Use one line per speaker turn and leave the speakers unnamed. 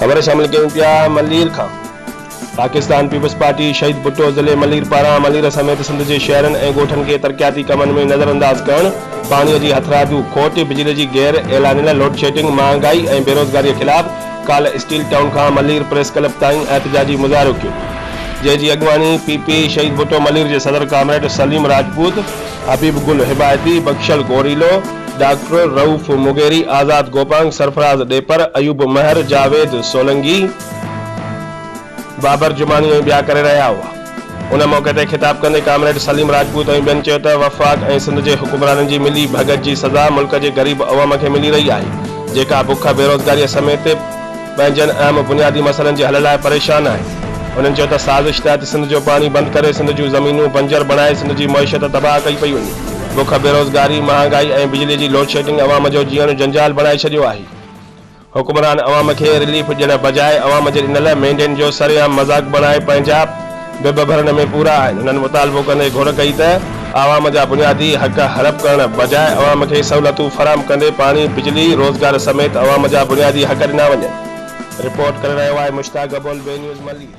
خبر شامل ڪيون پيا ملير کان پاڪستان پيپلز پارٽي شهيد ڀٽو ضلعي ملير پاران ملير سميت سنڌ جي شهرن ۽ ڳوٺن کي ترقياتي ڪمن ۾ نظر انداز ڪرڻ، پاڻي جي هٿرادو کوٽ، بجلي جي غير اعلانيل لوڊشيڊنگ، مهانگائي ۽ بيروزگاري خلاف ڪالهه اسٽيل ٽائون کان ملير پريس ڪلب تائين احتجاجي مظاهرو ڪيو جنهن جي اڳواڻي پي پي شهيد ڀٽو ملير جي صدر ڪامريڊ سليم راجپوت، حبيب گل هبائتي، بخشل گوريلو، ڊاڪٽر رئوف مغيري، آزاد گوپانگ، سرفراز ڏيپر، ايوب مهر، جاويد سولنگي. بابر جماڻي ۽ ٻيا ڪري رهيا هئا. ان موقعي تي خطاب ڪندي ڪامريڊ سليم راجپوت ۽ ٻين چيو ته وفاق ۽ سنڌ جي حڪمرانن جي ملي ڀڳت جي سزا ملڪ جي غريب عوام کي ملي رهي آهي جيڪا بک، بيروزگاريء سميت پنهنجن اهم بنيادي مسئلن جي حل لاء پريشان آهي. انهن چيو ته سازش تحت سنڌ جو پاڻي بند ڪري سنڌ جون زمينون بنجر بڻائي سنڌ جي معيشت تباهه ڪئي پئي وڃي. بک، بيروزگاري، مهانگائي ۽ بجلي جي لوڊشيڊنگ عوام جو جيئڻ جنجال بڻائي ڇڏيو آهي. حڪمران عوام کي رليف ڏيڻ بجاء عوام جي ڏنل مينڊيٽ جو سرعام مذاق بڻائي پنهنجا بب ڀرڻ ۾ پورا آهن انهن مطالبو ڪندي گهر ڪئي ته عوام جا بنيادي حق هڙپ ڪرڻ بجاء عوام کي سهولتون فراهم ڪندي پاڻي، بجلي، روزگار سميت عوام جا بنيادي حق ڏنا وڃن. رپورٽ ڪري رهيو آهي مشتاق گبول، بي نيوز ملير.